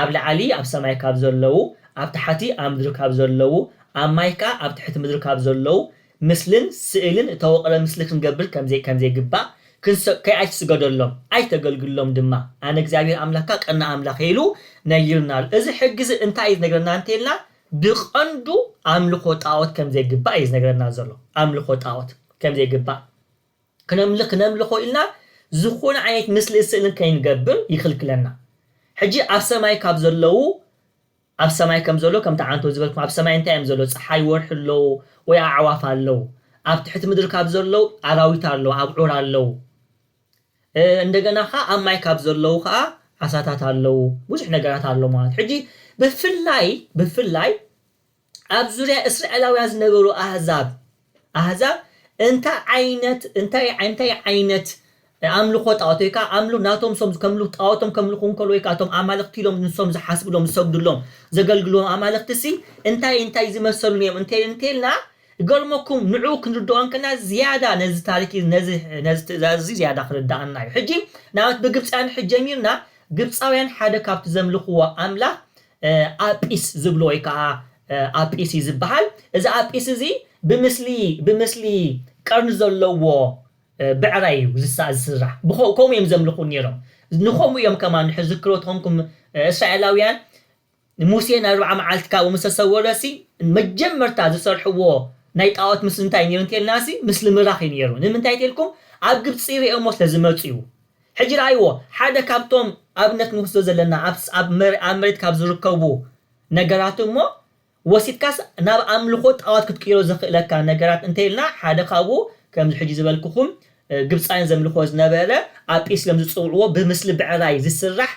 ኣብ ላዕሊ ኣብ ሰማይ ካብ ዘለዉ፣ ኣብ ታሕቲ ኣብ ምድሪ ካብ ዘለዉ፣ ኣብ ማይ ከኣ ኣብ ትሕቲ ምድሪ ካብ ዘለዉ፣ ምስልን ስእልን እተወቕረ ምስሊ ክንገብር ከም ዘይግባእ፣ ክንሰብከይ ኣይትስገደሎም፣ ኣይተገልግሎም ድማ፣ ኣነ እግዚኣብሄር ኣምላኽካ ቀናእ ኣምላኽ እየ ኢሉ ነጊሩና ኣሎ። እዚ ሕጊ እዚ እንታይ እዩ ዝነግረና እንተ ኢልና፣ ብቐንዱ ኣምልኾ ጣኦት ከም ዘይግባእ እዩ ዝነግረና ዘሎ። ኣምልኾ ጣኦት ከም ዘይግባእ። ክነምልኽ ክነምልኾ ኢልና ዝኾነ ዓይነት ምስልን ስእልን ከይንገብር ይኽልክለና ሕጂ ኣብ ሰማይ ካብ ዘለዉ ኣብ ሰማይ ከም ዘሎ ከምቲ ዓንቶ ዝበልኩም ኣብ ሰማይ እንታይ እዮም ዘሎ ፀሓይ ወርሒ ኣለዉ ወይ ኣዕዋፍ ኣለዉ ኣብ ትሕቲ ምድሪ ካብ ዘለዉ ኣራዊት ኣለዉ ኣብዑር ኣለዉ እንደገና ከዓ ኣብ ማይ ካብ ዘለዉ ከዓ ዓሳታት ኣለዉ ብዙሕ ነገራት ኣሎ ማለት ሕጂ ብፍላይ ብፍላይ ኣብ ዙርያ እስራኤላውያን ዝነበሩ ኣህዛብ ኣህዛብ እንታይ ዓይነት እንታይ እንታይ ዓይነት ኣምልኾ ጣዖት ወይ ከዓ ኣምሉ ናቶም ሶም ከምሉ ጣዖቶም ከምልኹ እንከሎ ወይ ከዓ እቶም ኣማልኽቲ ኢሎም ንሶም ዝሓስብሎም ዝሰግድሎም ዘገልግልዎም ኣማልኽቲ ሲ እንታይ እንታይ ዝመሰሉ እዮም እንተ እንተልና ገልመኩም ንዑ ክንርድኦ እንከና ዝያዳ ነዚ ታሪክ ነዚ ነዚ ትእዛዝ እዚ ዝያዳ ክርዳኣና እዩ ሕጂ ናብት ብግብፃውያን ሕጂ ጀሚርና ግብፃውያን ሓደ ካብቲ ዘምልኽዎ ኣምላኽ ኣጲስ ዝብሎ ወይ ከኣ ኣጲስ እዩ ዝበሃል። እዚ ኣጲስ እዚ ብምስሊ ብምስሊ ቀርኒ ዘለዎ ብዕራይ እዩ ዝሳ ዝስራሕ። ብኸ ከምኡ እዮም ዘምልኹ ነይሮም። ንኸምኡ እዮም ከማን ንሕ ዝክሮ ተኾንኩም እስራኤላውያን ሙሴ ንኣርብዓ መዓልቲ ካብኡ ምስ ተሰወረሲ መጀመርታ ዝሰርሕዎ ናይ ጣኦት ምስሊ እንታይ እዩ ነይሩ እንተልናሲ ምስሊ ምራኽ እዩ ነይሩ። ንምንታይ ተልኩም ኣብ ግብጺ ርእዮሞ ስለ ዝመጹ እዩ። ሕጂ ርኣይዎ፣ ሓደ ካብቶም ኣብነት ንወስዶ ዘለና ኣብስ ኣብ መር ኣብ መሬት ካብ ዝርከቡ ነገራት እሞ ወሲድካስ ናብ ኣምልኾ ጣኦት ክትቅይሮ ዘኽእለካ ነገራት እንተ ኢልና ሓደ ካብኡ ከምዚ ሕጂ ዝበልኩኹም ግብጻውያን ዘምልኽዎ ዝነበረ ኣጲስሎም ዝጽውዕዎ ብምስሊ ብዕራይ ዝስራሕ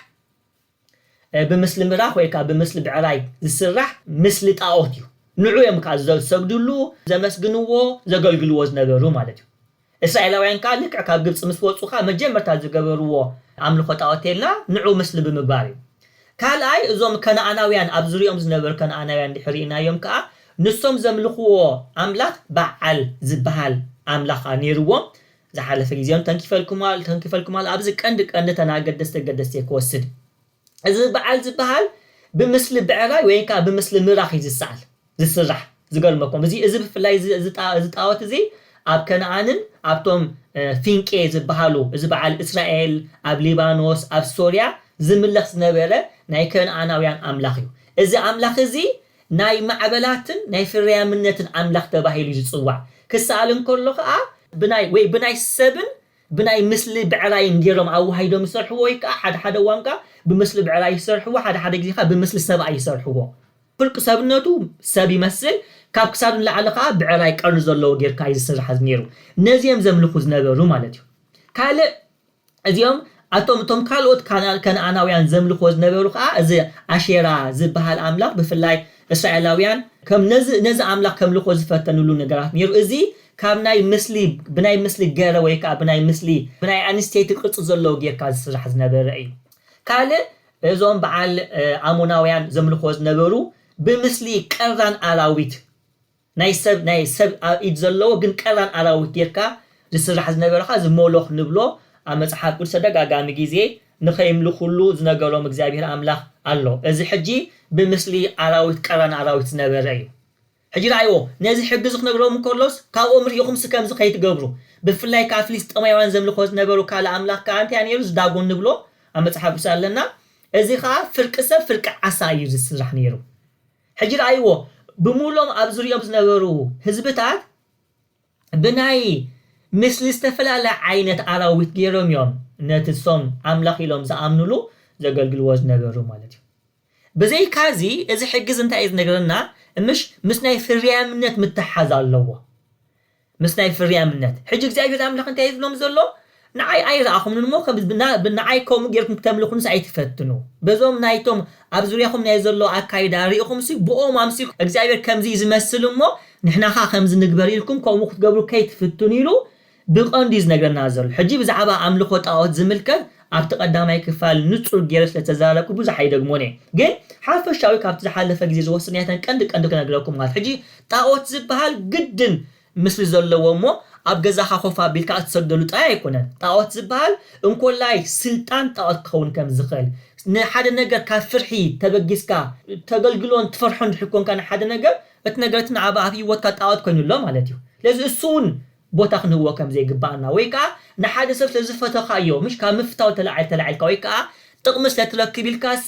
ብምስሊ ምራኽ ወይ ከኣ ብምስሊ ብዕራይ ዝስራሕ ምስሊ ጣኦት እዩ። ንዕኡ እዮም ከኣ ዝሰግድሉ፣ ዘመስግንዎ፣ ዘገልግልዎ ዝነበሩ ማለት እዩ። እስራኤላውያን ከኣ ልክዕ ካብ ግብጺ ምስ ወጹ ከኣ መጀመርታ ዝገበርዎ ኣምልኾ ጣኦት ቴላ ንዕኡ ምስሊ ብምግባር እዩ። ካልኣይ እዞም ከነኣናውያን ኣብ ዙርያኦም ዝነበሩ ከነኣናውያን እንድሕር ርኢናዮም ከኣ ንሶም ዘምልኽዎ ኣምላኽ በዓል ዝበሃል ኣምላኽ ከኣ ኔርዎም ዝሓለፈ ግዜውን ተንኪፈልኩም ኣል ተንኪፈልኩም ኣል ኣብዚ ቀንዲ ቀንዲ ተን ኣገደስቲ ኣገደስቲ እየ ክወስድ እዚ በዓል ዝበሃል ብምስሊ ብዕራይ ወይን ከኣ ብምስሊ ምራኽ እዩ ዝሰኣል ዝስራሕ ዝገርመኩም እዚ እዚ ብፍላይ እዚ እዚ ጣ እዚ ጣኦት እዚ ኣብ ከነኣንን ኣብቶም ፊንቄ ዝበሃሉ እዚ በዓል እስራኤል ኣብ ሊባኖስ ኣብ ሶርያ ዝምለኽ ዝነበረ ናይ ከነኣናውያን ኣምላኽ እዩ እዚ ኣምላኽ እዚ ናይ ማዕበላትን ናይ ፍርያምነትን ኣምላኽ ተባሂሉ ዝጽዋዕ ክሰኣል እንከሎ ከኣ ብናይ ወይ ብናይ ሰብን ብናይ ምስሊ ብዕራይን ጌሮም ኣዋሃሂዶም ይሰርሕዎ ወይ ከኣ ሓደ ሓደ እዋን ከኣ ብምስሊ ብዕራይ ይሰርሕዎ ሓደ ሓደ ግዜ ከኣ ብምስሊ ሰብኣይ ይሰርሕዎ ፍልቅ ሰብነቱ ሰብ ይመስል ካብ ክሳዱ ንላዕሊ ከኣ ብዕራይ ቀርኒ ዘለዎ ጌርካ እዩ ዝስራሕ ነይሩ ነዚ እዮም ዘምልኹ ዝነበሩ ማለት እዩ ካልእ እዚኦም ኣቶም እቶም ካልኦት ካና- ከነኣናውያን ዘምልኽዎ ዝነበሩ ከኣ እዚ ኣሼራ ዝበሃል ኣምላኽ ብፍላይ እስራኤላውያን ከም ነዚ ነዚ ኣምላኽ ከምልኽዎ ዝፈተንሉ ነገራት ነይሩ። እዚ ካብ ናይ ምስሊ ብናይ ምስሊ ገረ ወይ ከኣ ብናይ ምስሊ ብናይ ኣንስተይቲ ቅርጺ ዘለዎ ጌርካ ዝስራሕ ዝነበረ እዩ። ካልእ እዞም በዓል ኣሞናውያን ዘምልኽዎ ዝነበሩ ብምስሊ ቀራን ኣራዊት ናይ ሰብ ናይ ሰብ ኣብ ኢድ ዘለዎ ግን ቀራን ኣራዊት ጌርካ ዝስራሕ ዝነበረ ከኣ እዚ ሞሎኽ ንብሎ ኣብ መጽሓፍ ቅዱስ ተደጋጋሚ ግዜ ንኸይምልኹሉ ዝነገሮም እግዚኣብሄር ኣምላኽ ኣሎ እዚ ሕጂ ብምስሊ ኣራዊት ቀራን ኣራዊት ዝነበረ እዩ ሕጂ ረኣይዎ ነዚ ሕጊ እዚ ክነግሮም እንከሎስ ካብኦም ርኢኹምሲ ከምዚ ከይትገብሩ ብፍላይ ከኣ ፍልስጠማውያን ዘምልኾ ዝነበሩ ካልእ ኣምላኽ ከኣ እንታይ ነይሩ እዚ ዳጎን ንብሎ ኣብ መጽሓፍ ቅዱስ ኣለና እዚ ከኣ ፍርቂ ሰብ ፍርቂ ዓሳ እዩ ዝስራሕ ነይሩ ሕጂ ርኣይዎ፣ ብምሉኦም ኣብ ዙርያኦም ዝነበሩ ህዝብታት ብናይ ምስሊ ዝተፈላለ ዓይነት ኣራዊት ገይሮም እዮም ነቲ እሶም ኣምላኽ ኢሎም ዝኣምኑሉ ዘገልግልዎ ዝነበሩ ማለት እዩ። ብዘይካዚ እዚ ሕጊ እዚ እንታይ እዩ ዝነግረና፣ ምሽ ምስ ናይ ፍርያምነት ምትሕሓዝ ኣለዎ። ምስ ናይ ፍርያምነት። ሕጂ እግዚኣብሄር ኣምላኽ እንታይ እዩ ዝብሎም ዘሎ? ንዓይ ኣይረኣኹምን እሞ ከም ንዓይ ከምኡ ጌርኩም ክተምልኹንስ ኣይትፈትኑ። በዞም ናይቶም ኣብ ዙርያኹም ናይ ዘሎ ኣካይዳ ርኢኹምሲ ብኦም ኣምሲልኩም እግዚኣብሄር ከምዚ እዩ ዝመስል እሞ ንሕና ከኣ ከምዚ ንግበር ኢልኩም ከምኡ ክትገብሩ ከይትፍትኑ ኢሉ ብቐንዱ እዩ ዝነግረና ዘሎ። ሕጂ ብዛዕባ ኣምልኾ ጣኦት ዝምልከት ኣብቲ ቀዳማይ ክፋል ንጹር ጌረ ስለ ዝተዛረብኩ ብዙሕ ኣይደግሞን እየ ግን ሓፈሻዊ ካብቲ ዝሓለፈ ግዜ ዝወሰድናዮተን ቀንዲ ቀንዲ ክነግረኩም ማለት ሕጂ ጣኦት ዝብሃል ግድን ምስሊ ዘለዎ እሞ ኣብ ገዛኻ ኮፍ ኣቢልካ እትሰግደሉ ጥራይ ኣይኮነን ጣኦት ዝብሃል እንኮላይ ስልጣን ጣኦት ክኸውን ከም ዝኽእል ንሓደ ነገር ካብ ፍርሒ ተበጊስካ እተገልግሎን ትፈርሖን እንድሕር ኮንካ ንሓደ ነገር እቲ ነገር እቲ ንዓኻ ኣብ ሂወትካ ጣኦት ኮይኑ ኣሎ ማለት እዩ ስለዚ እሱ ውን ቦታ ክንህቦ ከም ዘይግብኣና ወይ ከኣ ንሓደ ሰብ ስለ ዝፈተኻዮ ምሽ ካብ ምፍታው ተላዒል ተላዒልካ ወይ ከኣ ጥቕሚ ስለ ትረክብ ኢልካሲ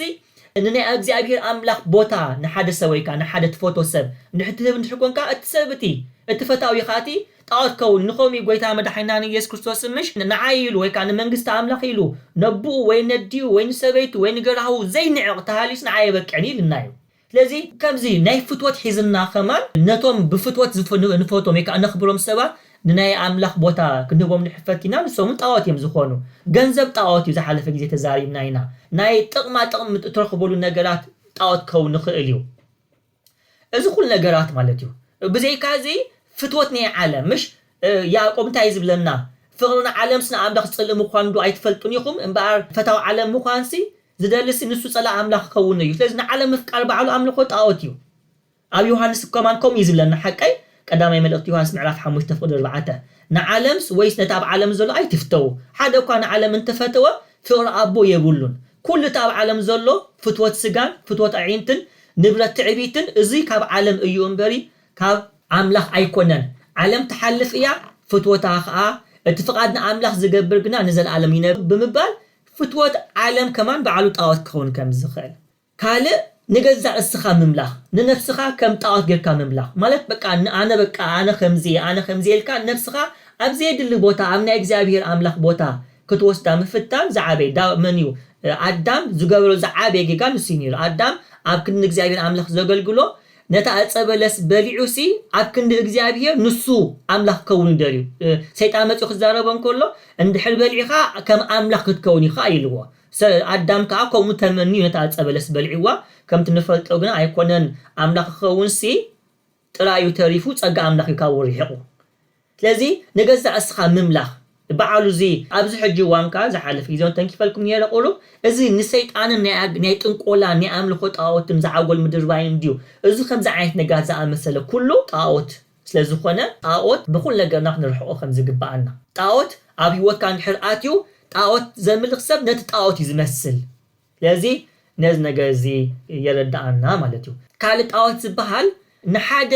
ንናይ ኣግዚኣብሄር ኣምላኽ ቦታ ንሓደ ሰብ ወይ ከኣ ንሓደ ትፈትዎ ሰብ እንድሕር ትህብ እንድሕር ኮንካ እቲ ሰብ እቲ እቲ ፈታዊ ከኣ እቲ ጣዖት ክኸውን ኢዩ ከምኡ ኢዩ ጎይታና መድሓኒናን ኢየሱስ ክርስቶስን ምሽ ንዓይ ኢሉ ወይ ከኣ ንመንግስቲ ኣምላኽ ኢሉ ነቡኡ ወይ ነዲኡ ወይ ንሰበይቱ ወይ ንገራህዉ ዘይንዕቕ ተሃልዩስ ንዓይ ኣይበቅዕን ኢዩ ኢሉና ኢዩ ስለዚ ከምዚ ናይ ፍትወት ሒዝና ከማን ነቶም ብፍትወት ዝፍ ንፈትዎም ወይ ከኣ ነኽብሮም ሰባት ንናይ ኣምላኽ ቦታ ክንህቦም ንሕፈት ኢና ንሶም ውን ጣኦት እዮም ዝኾኑ ገንዘብ ጣኦት እዩ ዝሓለፈ ግዜ ተዛሪብና ኢና ናይ ጥቕማ ጥቕሚ ምጥ እትረኽብሉ ነገራት ጣኦት ክኸውን ይኽእል እዩ እዚ ኩሉ ነገራት ማለት እዩ ብዘይካ እዚ ፍትወት ናይ ዓለም ምሽ ያእቆብ እንታይ እዩ ዝብለና ፍቕሪ ንዓለምስ ንኣምላኽ ጽልኢ ምዃኑ ዶ ኣይትፈልጡን ኢኹም እምበኣር ፈታው ዓለም ምዃንሲ ዝደልሲ ንሱ ጸላኢ ኣምላኽ ክከውን እዩ ስለዚ ንዓለም ምፍቃር ባዕሉ ኣምልኮ ጣኦት እዩ ኣብ ዮሃንስ ከማን ከምኡ እዩ ዝብለና ሓቀይ ቀዳማይ መልእክቲ ዮሃንስ ምዕራፍ ሓሙሽተ ፍቅዲ ኣርባዕተ ንዓለምስ ወይስ ነቲ ኣብ ዓለም ዘሎ ኣይትፍተዉ ሓደ እኳ ንዓለም እንተፈተወ ፍቅሪ ኣቦ የብሉን ኩሉ እቲ ኣብ ዓለም ዘሎ ፍትወት ስጋን ፍትወት ኣዒንትን ንብረት ትዕቢትን እዙይ ካብ ዓለም እዩ እምበሪ ካብ ኣምላኽ ኣይኮነን ዓለም ትሓልፍ እያ ፍትወታ ከኣ እቲ ፍቃድ ንኣምላኽ ዝገብር ግና ንዘልኣለም ይነብር ብምባል ፍትወት ዓለም ከማን ባዕሉ ጣኦት ክኸውን ከም ዝኽእል ካልእ ንገዛእ እስኻ ምምላኽ ንነፍስኻ ከም ጣኦት ጌርካ ምምላኽ ማለት በቃ ኣነ በቃ ኣነ ከምዚ እየ ኣነ ከምዚ እየ ኢልካ ነፍስኻ ኣብ ዘየድሊ ቦታ ኣብ ናይ እግዚኣብሄር ኣምላኽ ቦታ ክትወስዳ ምፍታን ዝዓበየ ዳዊት መን እዩ ኣዳም ዝገበሮ ዝዓበየ ጌጋ ንሱ እዩ ኔሩ ኣዳም ኣብ ክንዲ ንእግዚኣብሄር ኣምላኽ ዘገልግሎ ነታ ዕጸ በለስ በሊዑሲ ኣብ ክንዲ እግዚኣብሄር ንሱ ኣምላኽ ክከውን ደልዩ። ሰይጣን መጺኡ ክዛረቦ እንከሎ እንድሕር በሊዕካ ከም ኣምላኽ ክትከውን ኢኻ ኢልዎ። ኣዳም ከኣ ከምኡ ተመንዩ ነታ ዕጸ በለስ በሊዕዋ። ከምቲ ንፈልጦ ግና ኣይኮነን ኣምላኽ ክኸውንሲ ጥራዩ ተሪፉ ጸጋ ኣምላኽ እዩ ካብኡ ርሒቑ። ስለዚ ንገዛእ እስኻ ምምላኽ ብዓሉ እዚ ኣብዚ ሕጂ እዋን ከኣ ዝሓለፈ ግዜ ውን ተንኪፈልኩም ኔረ ቁሩብ እዚ ንሰይጣንን ናይ ናይ ጥንቆላን ናይ ኣምልኾ ጣኦትን ዝዓጎል ምድርባይን እንድዩ እዚ ከምዚ ዓይነት ነገራት ዝኣመሰለ ኩሉ ጣኦት ስለ ዝኾነ ጣኦት ብኹሉ ነገርና ክንርሕቆ ከም ዝግብኣና። ጣኦት ኣብ ሂወትካ እንድሕር ኣትዩ ጣኦት ዘምልኽ ሰብ ነቲ ጣኦት እዩ ዝመስል ስለዚ ነዚ ነገር እዚ የረድኣና ማለት እዩ። ካልእ ጣዖት ዝበሃል ንሓደ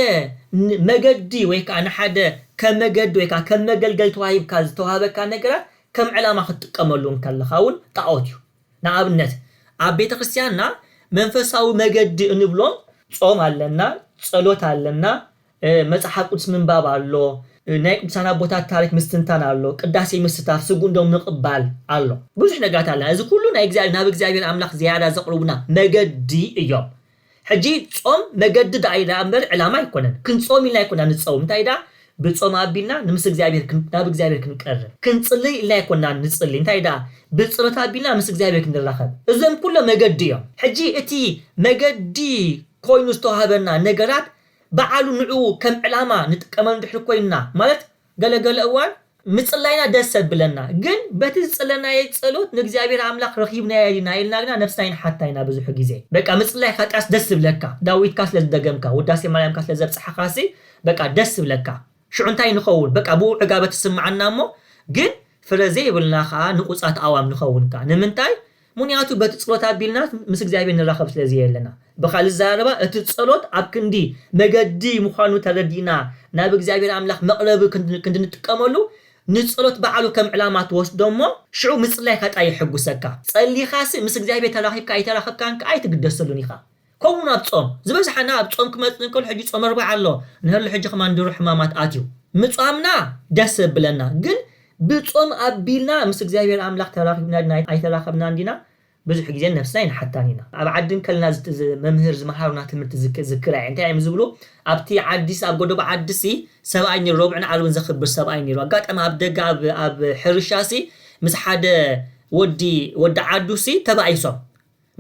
መገዲ ወይ ከኣ ንሓደ ከም መገዲ ወይ ከኣ ከም መገልገሊ ተዋሂብካ ዝተዋህበካ ነገራት ከም ዕላማ ክትጥቀመሉ እንከለኻ እውን ጣዖት እዩ። ንኣብነት ኣብ ቤተ ክርስትያንና መንፈሳዊ መገዲ እንብሎም ጾም ኣለና፣ ጸሎት ኣለና፣ መጽሓፍ ቅዱስ ምንባብ ኣሎ፣ ናይ ቅዱሳን ኣቦታት ታሪክ ምስትንታን ኣሎ፣ ቅዳሴ ምስታፍ፣ ስግኡን ደሙን ምቅባል ኣሎ። ብዙሕ ነገራት ኣለና እዚ ኩሉ ናይ እግዚኣብሔር ናብ እግዚኣብሔር ኣምላክ ዝያዳ ዘቅርቡና መገዲ እዮም። ሕጂ ጾም መገዲ ድኣ እዩ ድኣ እምበር ዕላማ ኣይኮነን። ክንጾም ኢልና ኣይኮናን ንጸውም እንታይ ድኣ ብጾም ኣቢልና ንምስ እግዚኣብሔር ናብ እግዚኣብሔር ክንቀርብ። ክንጽልይ ኢልና ኣይኮናን ንጽልይ እንታይ ድኣ ብጸሎት ኣቢልና ምስ እግዚኣብሔር ክንራከብ። እዞም ኩሎም መገዲ እዮም። ሕጂ እቲ መገዲ ኮይኑ ዝተዋህበና ነገራት በዓሉ ንዕኡ ከም ዕላማ ንጥቀመሉ ድሕሪ ኮይንና ማለት ገለ ገለ እዋን ምጽላይና ደስ ኣብለና ግን በቲ ዝጸለናዬ ጸሎት ንእግዚኣብሔር ኣምላኽ ረኺብናዬ ዲና ኢልና ግና ነፍስና ይንሓታ ኢና ብዙሑ ግዜ በቃ ምጽላይ ኻጥያስ ደስ ዝብለካ ዳዊትካ ስለ ዝደገምካ ውዳሴ ማርያምካ ስለ ዘብጽሕኻሲ በቃ ደስ ዝብለካ ሽዑ እንታይ ንኸውን በቃ ብኡ ዕጋበት ይስምዓና እሞ ግን ፍረ ዘይብልና ከኣ ንቁጻት ኣእዋም ንኸውን ከኣ ንምንታይ ምክንያቱ በቲ ጽሎት ኣቢልና ምስ እግዚኣብሔር ንራኸብ ስለ ዘየለና ብካልእ ኣዘራርባ እቲ ጸሎት ኣብ ክንዲ መገዲ ምዃኑ ተረዲእና ናብ እግዚኣብሔር ኣምላኽ መቅረቢ ክንዲ ንጥቀመሉ ንጸሎት በዓሉ ከም ዕላማ ትወስዶ እሞ ሽዑ ምጽላይካ ጥራይ የሕጉሰካ ጸሊኻሲ ምስ እግዚኣብሔር ተራኺብካ ኣይተራኸብካን ከኣ ኣይትግደሰሉን ኢኻ ከምኡ ውን ኣብ ጾም፣ ዝበዝሓና ኣብ ጾም ክመጽእ እንከሎ ሕጂ ጾመ ኣርብዓ ኣሎ እንሀሉ ሕጂ ከማን ድሩዕ ሕማማት ኣትዩ ምጻምና ደስ የብለና ግን ብጾም ኣቢልና ምስ እግዚኣብሄር ኣምላኽ ተራኺብና ድና ኣይተራኸብናን ዲና ብዙሕ ግዜ ንነብስና ኣይንሓታን ኢና ኣብ ዓዲ እንከለና መምህር ዝመሃሩና ትምህርቲ ዝክራ እየ እንታይ እዮም ዝብሉ ኣብቲ ዓዲስ ኣብ ጎዶቦ ዓዲሲ ሰብኣይ ኔሩ ረቡዕን ዓርብን ዘኽብር ሰብኣይ ኔሩ ኣጋጣሚ ኣብ ደገ ኣብ ኣብ ሕርሻሲ ምስ ሓደ ወዲ ወዲ ዓዱሲ ተባኢሶም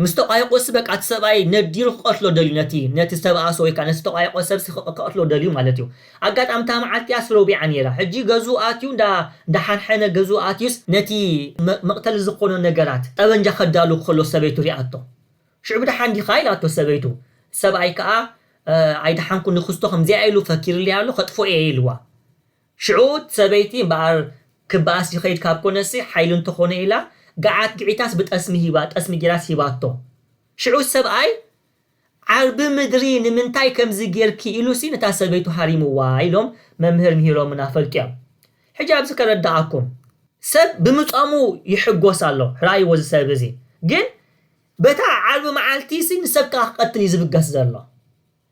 ምስ ተቋየቆሲ በቃ እቲ ሰብኣይ ነዲሉ ክቀትሎ ደልዩ ነቲ ነቲ ዝተባኣሶ ወይ ከኣ ነቲ ዝተቋየቆ ሰብሲ ክቀትሎ ደልዩ ማለት እዩ ኣጋጣሚ እታ መዓልቲ እያስ ሮቢዓ ኔራ ሕጂ ገዝኡ ኣትዩ እንዳ እንዳሓንሐነ ገዝኡ ኣትዩስ ነቲ መቅተሊ ዝኮኖ ነገራት ጠበንጃ ከዳሉ ከሎ ሰበይቱ ሪኣቶ ሽዑ ድሓን ዲካ ኢላቶ ሰበይቱ ሰብኣይ ከኣ ኣይደሓንኩን ንክስቶ ከምዚኣ ኢሉ ፈኪርለይ ኣሎ ከጥፎ እየ ኢልዋ ሽዑ እቲ ሰበይቲ እምበኣር ክበኣስ ይኸይድ ካብ ኮነሲ ሓይሊ እንተኾነ ኢላ ገዓት ግዒታስ ብጠስሚ ሂባ ጠስሚ ጌራስ ሂባቶ ሽዑ እቲ ሰብኣይ ዓርቢ ምድሪ ንምንታይ ከምዚ ጌርኪ ኢሉሲ ነታ ሰበይቱ ሃሪምዋ ኢሎም መምህር ምሂሮምና ፈልጥዮም ሕጂ ኣብዚ ከረደኣኩም ሰብ ብምጾሙ ይሕጎስ ኣሎ ርኣይዎ እዚ ሰብ እዚ ግን በታ ዓርቢ መዓልቲሲ ንሰብ ከኣ ክቀትል እዩ ዝብገስ ዘሎ።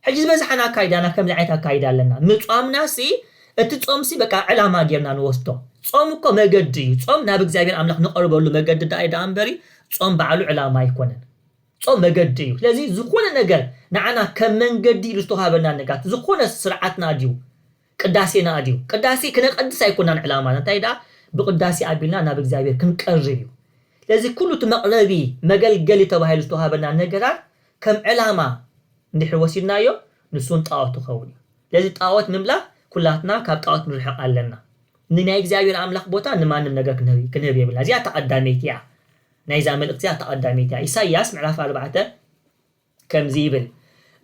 ሕጂ ዝበዝሓና ኣካይዳና ከምዚ ዓይነት ኣካይዳ ኣለና ምጿምናሲ እቲ ጾምሲ በቃ ዕላማ ጌርና ንወስዶ ጾም እኮ መገዲ እዩ ጾም ናብ እግዚኣብሔር ኣምላኽ ንቐርበሉ መገዲ ደኣ እዩ ደኣ እምበሪ ጾም ባዕሉ ዕላማ ኣይኮነን ጾም መገዲ እዩ ስለዚ ዝኾነ ነገር ንዓና ከም መንገዲ ኢሉ ዝተዋሃበና ነጋት ዝኾነ ስርዓትና ድዩ ቅዳሴና ድዩ ቅዳሴ ክነቀድስ ኣይኮናን ዕላማና እንታይ ደኣ ብቅዳሴ ኣቢልና ናብ እግዚኣብሔር ክንቀርብ እዩ ስለዚ ኩሉ እቲ መቕረቢ መገልገሊ ተባሂሉ ዝተዋሃበና ነገራት ከም ዕላማ እንድሕር ወሲድናዮ ንሱውን ጣኦት ክኸውን እዩ። ስለዚ ጣኦት ምምላኽ ኩላትና ካብ ጣኦት ክንርሕቕ ኣለና። ንናይ እግዚኣብሔር ኣምላኽ ቦታ ንማንም ነገር ክንህብ የብልና። እዚኣ እታ ቀዳመይቲ እያ። ናይዛ መልእኽቲ እዚኣ እታ ቀዳመይቲ እያ። ኢሳይያስ ምዕራፍ ኣርባዕተ ከምዚ ይብል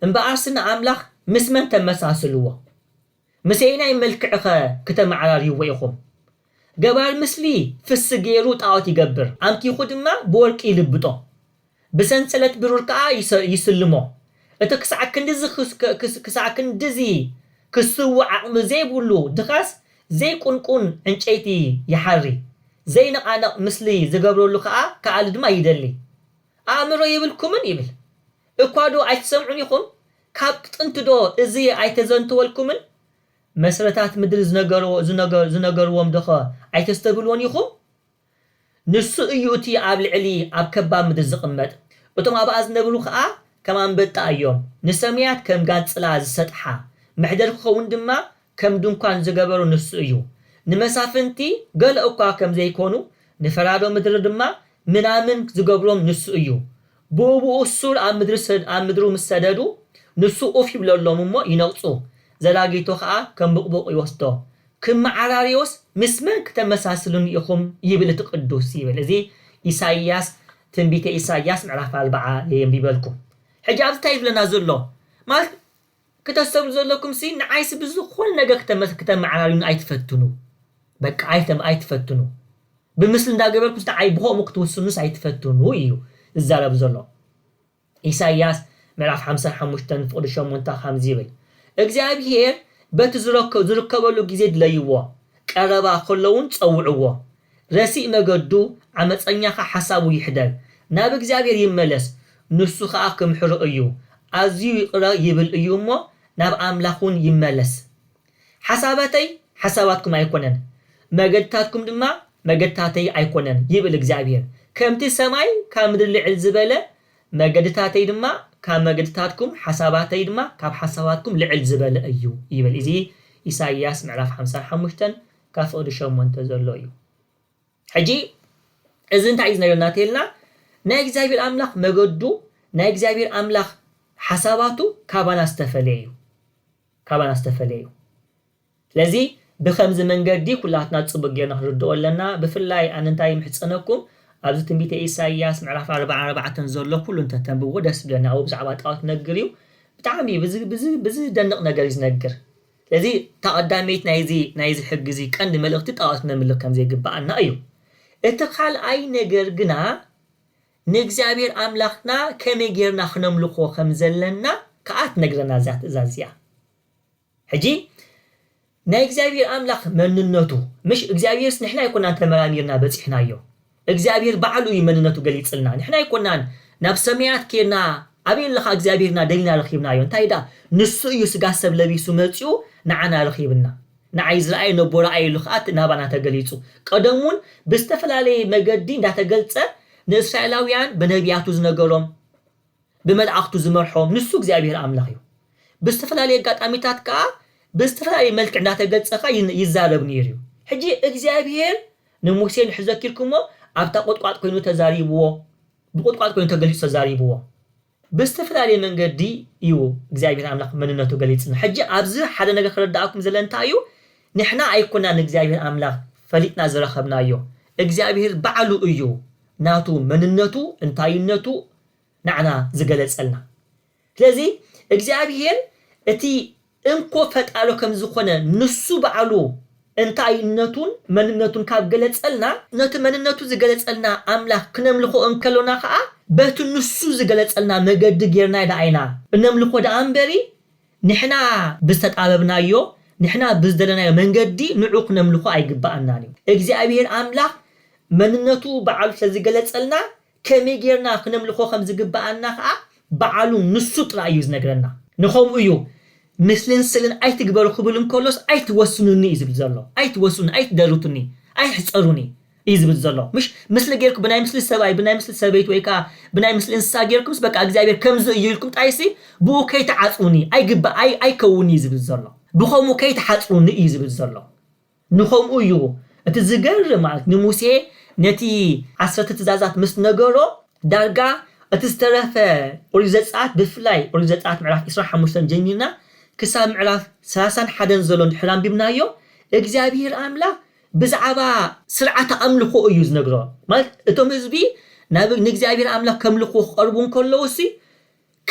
እምበኣርሲ ንኣምላኽ ምስ መን ተመሳስልዎ? ምስ ኣየናይ መልክዕኸ ክተመዓራርይዎ ኢኹም? ገባር ምስሊ ፍሲ ገይሩ ጣዖት ይገብር፣ ኣምኪኹ ድማ ብወርቂ ይልብጦ፣ ብሰንሰለት ብሩር ከኣ ይስልሞ፣ እቲ ክሳዕ ክንድዚ ክስውእ ዓቕሚ ዘይብሉ ድኻስ ዘይቁንቁን ዕንጨይቲ ይሓሪ፣ ዘይነቓነቕ ምስሊ ዝገብረሉ ከኣ ክኣሊ ድማ ይደሊ። ኣእምሮ የብልኩምን? ይብል። እኳዶ ኣይትሰምዑን ኢኹም? ካብ ጥንቲዶ እዚ ኣይተዘንተወልኩምን? መስረታት ምድሪ ዝነገርዎ ዝነገር ዝነገርዎም ዶኸ ኣይተስተብህልዎን ኢኹም? ንሱ እዩ እቲ ኣብ ልዕሊ ኣብ ከባብ ምድሪ ዝቕመጥ፣ እቶም ኣብኣ ዝነብሩ ኸኣ ከም ኣንበጣ እዮም፣ ንሰማያት ከም ጋንጽላ ዝሰጥሓ፣ መሕደር ክኸውን ድማ ከም ድንኳን ዝገበሮ ንሱ እዩ። ንመሳፍንቲ ገለ እኳ ከም ዘይኰኑ፣ ንፈራዶ ምድሪ ድማ ምናምን ዝገብሮም ንሱ እዩ። ብኡብኡ ሱር ኣብ ምድሩ ምስ ሰደዱ፣ ንሱ ኡፍ ይብለሎም እሞ ይነቕጹ፣ ዘራጊቶ ኸኣ ከም ቡቕቡቕ ይወስዶ። ክመዓራርዮስ ምስ መን ክተመሳስሉኒ ኢኹም? ይብል እቲ ቅዱስ ይብል። እዚ ኢሳይያስ ትንቢተ ኢሳይያስ ምዕራፍ ኣርብዓ እየ የንቢበልኩም። ሕጂ ኣብዚ እንታይ እዩ ዝብለና ዘሎ ማለት ክተስተብሉ ዘለኩምሲ ንዓይሲ ብዝኮነ ነገር ክተመዓራርዩኒ ኣይትፈትኑ በቃ ኣይተ ኣይትፈትኑ ብምስሊ እንዳገበርኩ ንዓይ ብከምኡ ክትውስኑስ ኣይትፈትኑ ኢዩ ዝዛረብ ዘሎ ኢሳይያስ ምዕራፍ ሓምሳን ሓሙሽተን ፍቅዲ ሸሞንተ ከምዚ ይብል እግዚኣብሄር በቲ ዝረከ ዝርከበሉ ግዜ ድለይዎ ቀረባ ከሎውን ጸውዕዎ ረሲእ መገዱ ዓመጸኛ ከኣ ሓሳቡ ይሕደግ ናብ እግዚኣብሔር ይመለስ ንሱ ከኣ ክምሕሮ እዩ ኣዝዩ ይቅረ ይብል እዩ እሞ ናብ ኣምላኽ ውን ይመለስ ሓሳባተይ ሓሳባትኩም ኣይኮነን መገድታትኩም ድማ መገድታተይ ኣይኮነን ይብል እግዚኣብሔር ከምቲ ሰማይ ካብ ምድሪ ልዕል ዝበለ መገድታተይ ድማ ካብ መገድታትኩም ሓሳባተይ ድማ ካብ ሓሳባትኩም ልዕል ዝበለ እዩ ይብል እዚ ኢሳይያስ ምዕራፍ ሓምሳን ሓሙሽተን ካፈቅዱ ሸሞንተ ዘሎ እዩ ሕጂ እዚ እንታይ እዩ ዝነግረና ተልና ናይ እግዚኣብሔር ኣምላኽ መገዱ ናይ እግዚኣብሔር ኣምላኽ ሓሳባቱ ካባና ዝተፈለየ እዩ ካባና ዝተፈለየ እዩ ስለዚ ብከምዚ መንገዲ ኩላትና ጽቡቅ ጌርና ክንርድኦ ኣለና ብፍላይ ኣነ እንታይ ይምሕጸነኩም ኣብዚ ትንቢተ ኢሳይያስ ምዕራፍ ዓርባን ኣርባዕተን ዘሎ ኩሉ እንተተንብብዎ ደስ ይብለኒ ኣብኡ ብዛዕባ ጣኦት ክነግር እዩ ብጣዕሚ ብዚ ብዚ ብዝደንቅ ነገር እዩ ዝነግር ስለዚ እታ ቀዳመይቲ ናይዚ ናይዚ ሕጊ እዚ ቀንዲ መልእኽቲ ጣኦት ነምልኽ ከም ዘይግብኣና እዩ። እቲ ካልኣይ ነገር ግና ንእግዚኣብሄር ኣምላኽና ከመይ ጌርና ክነምልኾ ከም ዘለና ከኣ ትነግረና እዛ ትእዛዝ እዚኣ። ሕጂ ናይ እግዚኣብሄር ኣምላኽ መንነቱ ምሽ እግዚኣብሄርስ ንሕና ኣይኮናን ተመራሚርና በጺሕናዮ። እግዚኣብሄር ባዕሉ እዩ መንነቱ ገሊጽልና ንሕና ኣይኮናን ናብ ሰመያት ኬድና ኣበይ ኣለኻ እግዚኣብሄርና ደሊና ረኺብናዮ እንታይ ድኣ ንሱ እዩ ስጋ ሰብ ለቢሱ መጺኡ ንዓና ረኺብና ንዓይ ዝረኣየ ነቦ ረኣየ ኢሉ ከኣ ናባና ተገሊጹ ቀደም ውን ብዝተፈላለየ መገዲ እንዳተገልጸ ንእስራኤላውያን ብነብያቱ ዝነገሮም ብመላእኽቱ ዝመርሖም ንሱ እግዚኣብሄር ኣምላኽ እዩ። ብዝተፈላለየ ኣጋጣሚታት ከኣ ብዝተፈላለየ መልክዕ እንዳተገልጸ ከኣ ይዛረብ ኔሩ እዩ። ሕጂ እግዚኣብሄር ንሙሴ እንድሕር ዘኪርኩሞ ኣብታ ቁጥቋጥ ኮይኑ ተዛሪብዎ ብቁጥቋጥ ኮይኑ ተገሊጹ ተዛሪብዎ። ብዝተፈላለየ መንገዲ እዩ እግዚኣብሄር ኣምላኽ መንነቱ ገሊጽልና። ሕጂ ኣብዚ ሓደ ነገር ክርደኣኩም ዝደለ እንታይ እዩ ንሕና ኣይኮናን ንእግዚኣብሄር ኣምላኽ ፈሊጥና ዝረኸብናዮ እግዚኣብሄር ባዕሉ እዩ ናቱ መንነቱ እንታይነቱ ናዓና ዝገለጸልና ስለዚ እግዚኣብሄር እቲ እንኮ ፈጣሎ ከምዝኮነ ንሱ ባዕሉ እንታይነቱን መንነቱን ካብ ገለጸልና ነቲ መንነቱ ዝገለጸልና ኣምላኽ ክነምልኾ እንከሎና ከኣ በቲ ንሱ ዝገለጸልና መገዲ ጌርና ደኣ ኢና እነምልኾ ደኣ እምበሪ ንሕና ብዝተጣበብናዮ ንሕና ብዝደለናዮ መንገዲ ንዑ ክነምልኾ ኣይግበኣናን እዩ እግዚኣብሄር ኣምላኽ መንነቱ ባዕሉ ስለዝገለጸልና ከመይ ጌርና ክነምልኾ ከም ዝግብኣና ከኣ ብዓሉ ንሱ ጥራይ እዩ ዝነግረና። ንኸምኡ እዩ ምስልን ስልን ኣይትግበሩ ክብል እንከሎስ ኣይትወስኑኒ እዩ ዝብል ዘሎ። ኣይትወስኑኒ፣ ኣይትደርቱኒ፣ ኣይሕጸሩኒ እዩ ዝብል ዘሎ። ምሽ ምስሊ ጌርኩም ብናይ ምስሊ ሰብኣይ፣ ብናይ ምስሊ ሰበይቲ ወይ ከኣ ብናይ ምስሊ እንስሳ ጌርኩምስ በቃ እግዚኣብሄር ከምዚ እዩ ኢልኩም ጥራይሲ ብኡ ከይትዓጽዉኒ፣ ኣይግባእ፣ ኣይ ኣይከውን እዩ ዝብል ዘሎ። ብኸምኡ ከይትሓጽዉኒ እዩ ዝብል ዘሎ። ንኸምኡ እዩ እቲ ዝገርም ማለት ንሙሴ ነቲ ዓሰርተ ትእዛዛት ምስ ነገሮ ዳርጋ እቲ ዝተረፈ ኦሪት ዘጽኣት ብፍላይ ኦሪት ዘጽኣት ምዕራፍ ዕስራን ሓሙሽተን ጀሚርና ክሳብ ምዕራፍ ሰላሳን ሓደን ዘሎ እንድሕር ኣንቢብናዮ እግዚኣብሄር ኣምላኽ ብዛዕባ ስርዓተ ኣምልኾ እዩ ዝነግሮ ማለት እቶም ህዝቢ ናብ ንእግዚኣብሄር ኣምላኽ ከምልኽዎ ክቐርቡ እንከለዉሲ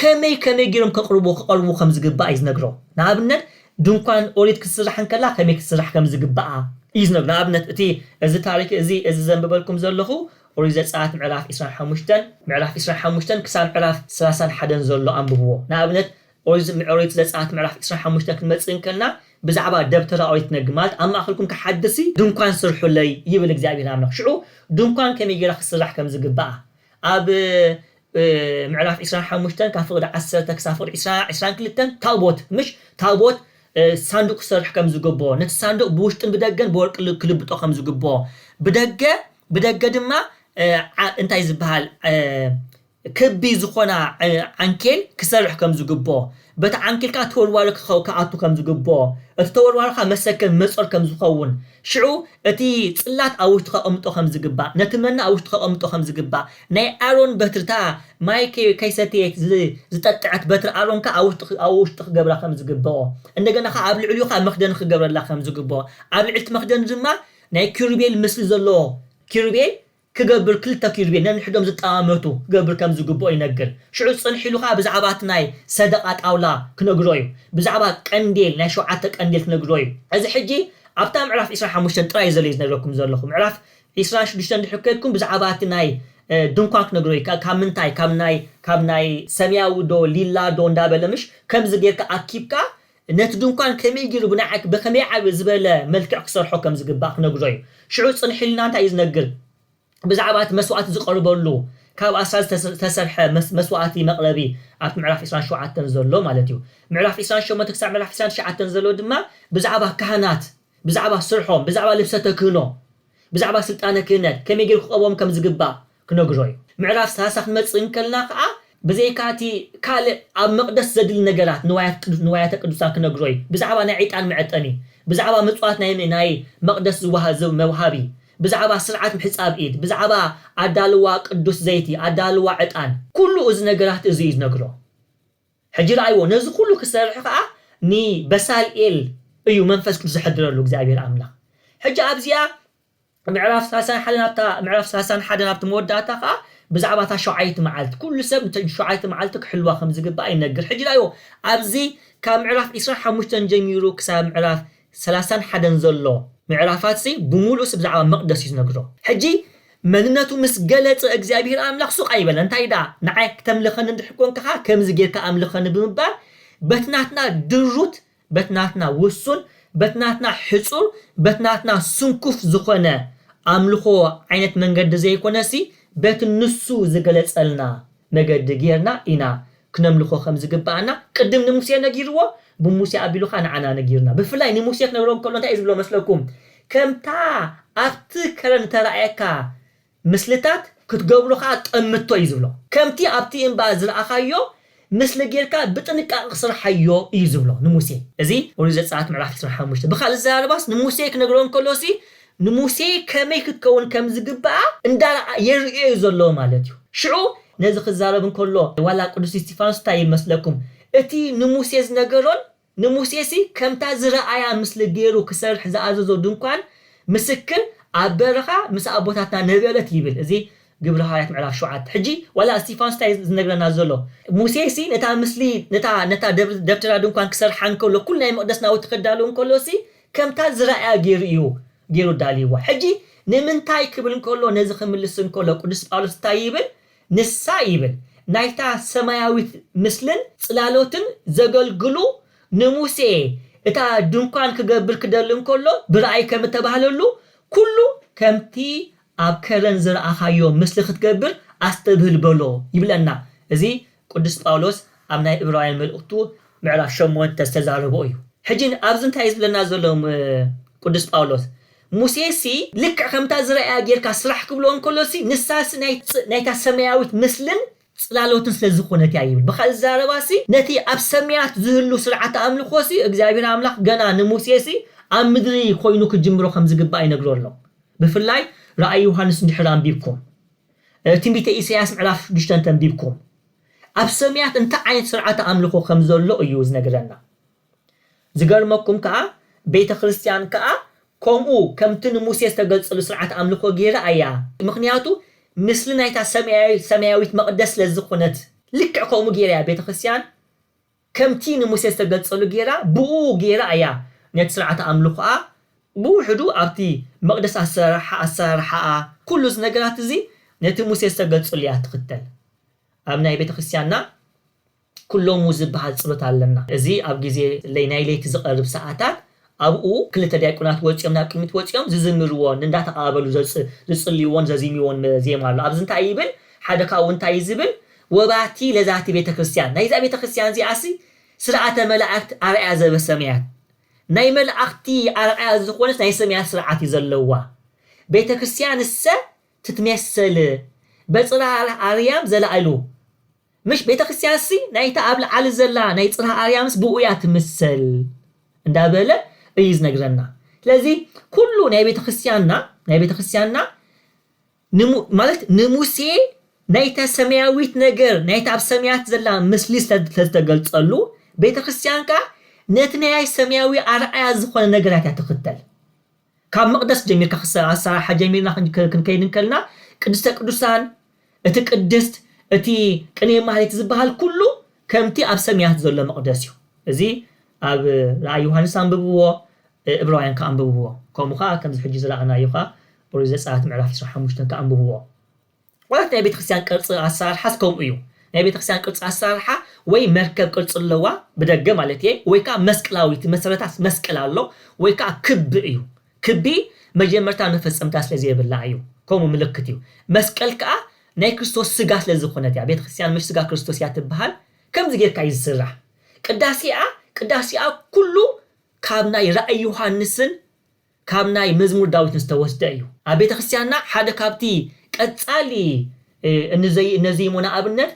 ከመይ ከመይ ገይሮም ከቕርቡ ክቐርቡ ከም ዝግባእ እዩ ዝነግሮ። ንኣብነት ድንኳን ኦሪት ክትስራሕ እንከላ ከመይ ክትስራሕ ከም ዝግብኣ እዩ ዝነግሮ። ንኣብነት እቲ እዚ ታሪክ እዚ እዚ ዘንብበልኩም ዘለኹ ኦሪት ዘጸኣት ምዕራፍ ዕስራን ሓሙሽተን ምዕራፍ ዕስራን ሓሙሽተን ክሳብ ምዕራፍ ሰላሳን ሓደን ዘሎ ኣንብብዎ። ንኣብነት ኦሪት ኦሪት ዘጸኣት ምዕራፍ ዕስራን ሓሙሽተን ክንመጽእ እንከልና ብዛዕባ ደብተራ ኦሪት ትነግር ማለት ኣብ ማእከልኩም ክሓድርሲ ድንኳን ስርሑለይ ይብል እግዚኣብሄር ኣምላኽ። ሽዑ ድንኳን ከመይ ገይራ ክትስራሕ ከም ዝግብኣ ኣብ ምዕራፍ ዕስራን ሓሙሽተን ካብ ፍቕዲ ዓሰርተ ክሳብ ፍቕዲ ዕስራ፣ ዕስራን ክልተን፣ ታቦት፣ ምሽ፣ ታቦት፣ ሳንዱቕ ክሰርሕ ከም ዝግብኦ፣ ነቲ ሳንዱቕ ብውሽጥን ብደገን ብወርቂ ክልብጦ ከም ዝግብኦ፣ ብደገ ብደገ ድማ እንታይ ዝብሃል ክቢ ዝኾና ዓንኬል ክሰርሕ ከም ዝግብኦ፣ በቲ ዓንኪልካ ተወልዋሉ ክኸ ክኣቱ ከም ዝግብኦ፣ እቲ ተወልዋሉ ከኣ መሰከን መጾር ከም ዝኸውን፣ ሽዑ እቲ ጽላት ኣብ ውሽጡ ከቐምጦ ከም ዝግባእ፣ ነቲ መና ኣብ ውሽጡ ከቐምጦ ከም ዝግባእ፣ ናይ ኣሮን በትሪ እታ ማይ ከይ ከይሰተየት ዝ ዝጠጠዐት በትሪ ኣሮን ከኣ ኣብ ውሽጡ ክ ኣብ ውሽጡ ክገብራ ከም ዝግብኦ፣ እንደገና ከኣ ኣብ ልዕሊኡ ከኣ መኽደኒ ክገብረላ ከም ዝግብኦ፣ ኣብ ልዕሊቲ መኽደኒ ድማ ናይ ኪሩቤል ምስሊ ዘለዎ ኪሩቤል ክገብር ክልተ ኪሩቤል ነንሕዶም ዝጠማመቱ ክገብር ከም ዝግብኦ ይነግር። ሽዑ ጽንሕ ኢሉ ከኣ ብዛዕባ እቲ ናይ ሰደቓ ጣውላ ክነግሮ እዩ። ብዛዕባ ቀንዴል ናይ ሸውዓተ ቀንዴል ክነግሮ እዩ። እዚ ሕጂ ኣብታ ምዕራፍ ዕስራን ሓሙሽተን ጥራይ እዩ ዘሎ እዩ ዝነግረኩም ዘለኹ። ምዕራፍ ዕስራን ሽዱሽተን ድሕሪ ከድኩም ብዛዕባ እቲ ናይ ድንኳን ክነግሮ እዩ። ካብ ምንታይ ካብ ናይ ካብ ናይ ሰምያዊ ዶ ሊላ ዶ እንዳበለ ምሽ ከምዚ ጌርካ ኣኪብካ ነቲ ድንኳን ከመይ ገይሩ ብናይ ብኸመይ ዓቢ ዝበለ መልክዕ ክሰርሖ ከም ዝግባእ ክነግሮ እዩ። ሽዑ ጽንሕ ኢልና እንታይ እዩ ዝነግር? ብዛዕባ እቲ መስዋእቲ ዝቐርበሉ ካብ ኣስራዚ ዝተሰ ዝተሰርሐ መስ መስዋእቲ መቕረቢ ኣብቲ ምዕራፍ ዕስራን ሸውዓተን ዘሎ ማለት እዩ። ምዕራፍ ዕስራን ሸሞንተ ክሳዕ ምዕራፍ ዕስራን ትሽዓተን ዘሎ ድማ ብዛዕባ ካህናት ብዛዕባ ስርሖም ብዛዕባ ልብሰ ተክህኖ ብዛዕባ ስልጣነ ክህነት ከመይ ገይሩ ክቐብኦም ከም ዝግባእ ክነግሮ እዩ። ምዕራፍ ሰላሳ ክንመጽእ እንከለና ከኣ ብዘይካ እቲ ካልእ ኣብ መቕደስ ዘድሊ ነገራት ንዋያት ንዋያተ ቅዱሳን ክነግሮ እዩ። ብዛዕባ ናይ ዕጣን መዐጠኒ፣ ብዛዕባ ምጽዋት ናይ ናይ መቕደስ ዝወሃብ ዝ መውሃቢ፣ ብዛዕባ ስርዓት ምሕጻብ ኢድ፣ ብዛዕባ ኣዳልዋ ቅዱስ ዘይቲ፣ ኣዳልዋ ዕጣን፣ ኩሉ እዚ ነገራት እዚ እዩ ዝነግሮ። ሕጂ ርኣይዎ ነዚ ኩሉ ክሰርሕ ከኣ ንበሳልኤል እዩ መንፈስ ቅዱስ ዘሕድረሉ እግዚኣብሄር ኣምላኽ። ሕጂ ኣብዚኣ ምዕራፍ ሳልሳን ሓደን ኣብታ ምዕራፍ ሳልሳን ሓደን ኣብቲ መወዳእታ ከኣ ብዛዕባ እታ ሸውዓይቲ መዓልቲ ኩሉ ሰብ ነተን ሸውዓይቲ መዓልቲ ክሕልዋ ከም ዝግባእ ይነግር። ሕጂ ረኣይዎ ኣብዚ ካብ ምዕራፍ ዕስራን ሓሙሽተን ጀሚሩ ክሳብ ምዕራፍ ሰላሳን ሓደን ዘሎ ምዕራፋትሲ ብምሉኡሲ ብዛዕባ መቕደስ እዩ ዝነግሮ። ሕጂ መንነቱ ምስ ገለጸ እግዚኣብሄር ኣምላኽ ሱቕ ኣይበለን እንታይ ደኣ ንዓይ ክተምልኸኒ እንድሕር ኰንካ ከኣ ከምዚ ጌርካ ኣምልኸኒ ብምባል በቲ ናትና ድሩት በቲ ናትና ውሱን፣ በቲ ናትና ሕጹር፣ በቲ ናትና ስንኩፍ ዝኾነ ኣምልኾ ዓይነት መንገዲ ዘይኮነሲ፣ በቲ ንሱ ዝገለጸልና መገዲ ጌርና ኢና ክነምልኾ ከም ዝግብኣና ቅድም ንሙሴ ነጊርዎ፣ ብሙሴ ኣቢሉ ከኣ ንዓና ነጊሩና። ብፍላይ ንሙሴ ክነግሮ እንከሎ እንታይ እዩ ዝብሎ መስለኩም? ከምታ ኣብቲ ከረን እተራእየካ ምስልታት ክትገብሩ ከኣ ጠምቶ እዩ ዝብሎ። ከምቲ ኣብቲ እምባ ዝረኣኻዮ ምስሊ ጌርካ ብጥንቃቐ ክስርሓዮ እዩ ዝብሎ ንሙሴ። እዚ ኦሪት ዘጸኣት ምዕራፍ ዕስራን ሓሙሽተን ብኻልእ ኣዘራርባስ ንሙሴ ክነግሮ እንከሎሲ ንሙሴ ከመይ ክትከውን ከም ዝግብኣ እንዳረኣ የርእዮ እዩ ዘሎ ማለት እዩ። ሽዑ ነዚ ክዛረብ እንከሎ ዋላ ቅዱስ እስጢፋኖስ እንታይ ይብል መስለኩም እቲ ንሙሴ ዝነገሮን ንሙሴሲ ከምታ ዝረኣያ ምስሊ ገይሩ ክሰርሕ ዝኣዘዞ ድንኳን ምስክር ኣብ በረኻ ምስ ኣቦታትና ነበረት ይብል እዚ ግብሪ ሃዋርያት ምዕራፍ ሸውዓተ ሕጂ ዋላ እስቲፋኖስ እንታይ እዩ ዝነግረና ዘሎ ሙሴሲ ነታ ምስሊ ነታ ነታ ደብተራ ድንኳን ክሰርሓ እንከሎ ኩሉ ናይ መቕደስ ናውቲ ክዳሎ እንከሎሲ ከምታ ዝረኣያ ገይሩ እዩ ገይሩ ኣዳልይዋ ሕጂ ንምንታይ ክብል እንከሎ ነዚ ክምልስ እንከሎ ቅዱስ ጳውሎስ እንታይ ይብል ንሳ ይብል ናይታ ሰማያዊት ምስልን ጽላሎትን ዘገልግሉ ንሙሴ እታ ድንኳን ክገብር ክደሊ እንከሎ ብራእይ ከም እተባህለሉ ኩሉ ከምቲ ኣብ ከረን ዝረኣኻዮ ምስሊ ክትገብር ኣስተብህል በሎ ይብለና እዚ ቅዱስ ጳውሎስ ኣብ ናይ እብራውያን መልእኽቱ ምዕራፍ ሸሞንተ ዝተዛረቦ እዩ ሕጂ ኣብዚ እንታይ እዩ ዝብለና ዘሎ ቅዱስ ጳውሎስ ሙሴሲ ልክዕ ከምታ ዝረኣያ ጌርካ ስራሕ ክብሎ እንከሎሲ ንሳሲ ናይ ናይታ ሰማያዊት ምስልን ጽላሎትን ስለ ዝኾነት እያ ይብል። ብኻልእ ዘረባሲ ነቲ ኣብ ሰማያት ዝህሉ ስርዓተ ኣምልኾሲ እግዚኣብሄር ኣምላኽ ገና ንሙሴሲ ኣብ ምድሪ ኮይኑ ክጅምሮ ከም ዝግባእ ይነግሮ ኣሎ። ብፍላይ ራእይ ዮሃንስ እንድሕር ኣንቢብኩም ትንቢተ ኢሳይያስ ምዕራፍ ሽዱሽተ እንተንቢብኩም ኣብ ሰማያት እንታይ ዓይነት ስርዓተ ኣምልኾ ከም ዘሎ እዩ ዝነግረና። ዝገርመኩም ከኣ ቤተ ክርስትያን ከኣ ከምኡ ከምቲ ንሙሴ ዝተገልጸሉ ስርዓተ ኣምልኮ ጌራ ኣያ ምክንያቱ ምስሊ ናይታ ሰምያዊ ሰምያዊት መቅደስ ስለ ዝኮነት ልክዕ ከምኡ ጌራ ኣያ ቤተ ክርስትያን ከምቲ ንሙሴ ዝተገልጸሉ ጌራ ብእኡ ጌራ ኣያ ነቲ ስርዓተ ኣምልኮኣ ብውሕዱ ኣብቲ መቅደስ ኣሰራርሓ ኣሰራርሓኣ ኩሉ እዚ ነገራት እዚ ነቲ ሙሴ ዝተገልጸሉ እያ ትክተል ኣብ ናይ ቤተ ክርስትያንና ኩሎሙ ዝብሃል ጽሎት ኣለና እዚ ኣብ ግዜ ለይ ናይ ለይቲ ዝቀርብ ሰዓታት ኣብኡ ክልተ ዲያቆናት ወጺኦም ናብ ቅድሚት ወጺኦም ዝዝምርዎን እንዳ ተቀባበሉ ዝጽልይዎን ዘዚሚዎን ዜማ ኣሎ ኣብዚ እንታይ ይብል ሓደ ካብኡ እንታይ እዩ ዝብል ወባቲ ለዛቲ ቤተክርስትያን ናይዛ ቤተክርስትያን እዚኣሲ ስርዓተ መላእክት ኣርኣያ ዘበሰማያት ናይ መላእክቲ ኣርኣያ ዝኾነት ናይ ሰማያት ስርዓት እዩ ዘለዋ ቤተክርስትያንሰ ትትሜሰል በጽራር ኣርያም ዘላእሉ ምሽ ቤተክርስቲያንሲ ናይታ ኣብ ላዕሊ ዘላ ናይ ጽርሃ ኣርያምስ ብእኡ እያ ትምሰል እንዳ በለ እዩ ዝነግረና ስለዚ ኩሉ ናይ ቤተክርስቲያንና ናይ ቤተክርስቲያንና ንሙ ማለት ንሙሴ ናይታ ሰማያዊት ነገር ናይታ ኣብ ሰማያት ዘላ ምስሊ ስለ ዝተገልጸሉ ቤተክርስቲያን ከኣ ነቲ ናይ ሰማያዊ ኣርኣያ ዝኾነ ነገራት እያ ትኽተል ካብ መቕደስ ጀሚርካ ክሳብ ኣሰራርሓ ጀሚርና ክንከይድ እንከልና ቅድስተ ቅዱሳን እቲ ቅድስት እቲ ቅኔ ማህሌት ዝበሃል ኩሉ ከምቲ ኣብ ሰምያት ዘሎ መቕደስ እዩ እዚ ኣብ ራእይ ዮሃንስ ኣንብብዎ እብራውያን ከኣ ኣንብብዎ ከምኡ ከኣ ከምዚ ሕጂ ዝረኣናዮ ከኣ ኦሪት ዘጸኣት ምዕራፍ ዕስራን ሓሙሽተን ከኣ ኣንብብዎ ማለት ናይ ቤተክርስትያን ቅርጺ ኣሰራርሓስ ከምኡ እዩ ናይ ቤተክርስትያን ቅርጺ ኣሰራርሓ ወይ መርከብ ቅርጺ ኣለዋ ብደገ ማለት እየ ወይ ከዓ መስቅላዊት መሰረታስ መስቀል ኣሎ ወይ ከዓ ክቢ እዩ ክቢ መጀመርታ መፈጸምታ ስለ ዘይብላ እዩ ከምኡ ምልክት እዩ መስቀል ከዓ ናይ ክርስቶስ ስጋ ስለ ዝኾነት እያ ቤተክርስትያን ምሽ ስጋ ክርስቶስ እያ ትበሃል ከምዚ ጌርካ እዩ ዝስራሕ ቅዳሴኣ ቅዳሴኣ ኩሉ ካብ ናይ ራእይ ዮሃንስን ካብ ናይ መዝሙር ዳዊት ዝተወስደ እዩ። ኣብ ቤተ ክርስቲያንና ሓደ ካብቲ ቀጻሊ እነዜይሞና ኣብነት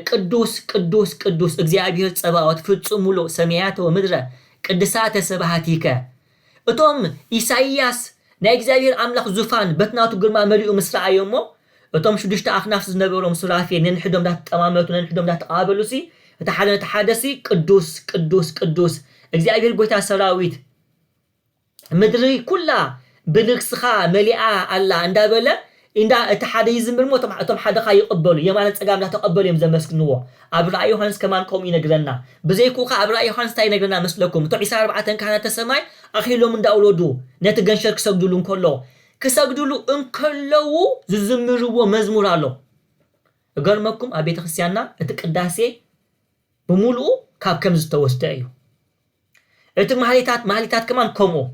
ቅዱስ ቅዱስ ቅዱስ እግዚኣብሔር ጸባኦት ፍጹም ምሉእ ሰማያተ ወምድረ ቅድሳተ ስብሐቲከ እቶም ኢሳይያስ ናይ እግዚኣብሔር ኣምላኽ ዙፋን በቲ ናቱ ግርማ መሊኡ ምስ ረኣዮ እሞ እቶም ሽዱሽተ ኣኽናፍ ዝነበሮም ሱራፌል ነንሕዶም እንዳተጠማመቱ ነንሕዶም እንዳተቐባበሉሲ እቲ ሓደ ነቲ ሓደሲ ቅዱስ ቅዱስ ቅዱስ እግዚኣብሔር ጐይታ ሰራዊት ምድሪ ኩላ ብልግስኻ መሊኣ ኣላ እንዳበለ ኢንዳ እቲ ሓደ ይዝምር እሞ እቶም እቶም ሓደ ከኣ ይቕበሉ የማንን ጸጋምን እንዳ ተቐበሉ እዮም ዘመስግንዎ። ኣብ ራእይ ዮሃንስ ከማን ከምኡ ይነግረና። ብዘይክኡ ከኣ ኣብ ራእይ ዮሃንስ እንታይ ይነግረና መስለኩም እቶም ዒስራን ኣርባዕተን ካህናተ ሰማይ ኣኽሊሎም እንዳ ኣውረዱ ነቲ ገንሸል ክሰግድሉ እንከለዉ ክሰግድሉ እንከለዉ ዝዝምርዎ መዝሙር ኣሎ። እገርመኩም ኣብ ቤተክርስትያንና እቲ ቅዳሴ ብምሉኡ ካብ ከም ዝተወስደ እዩ። እቲ ማህሌታት ማህሌታት ከማን ከምኡ።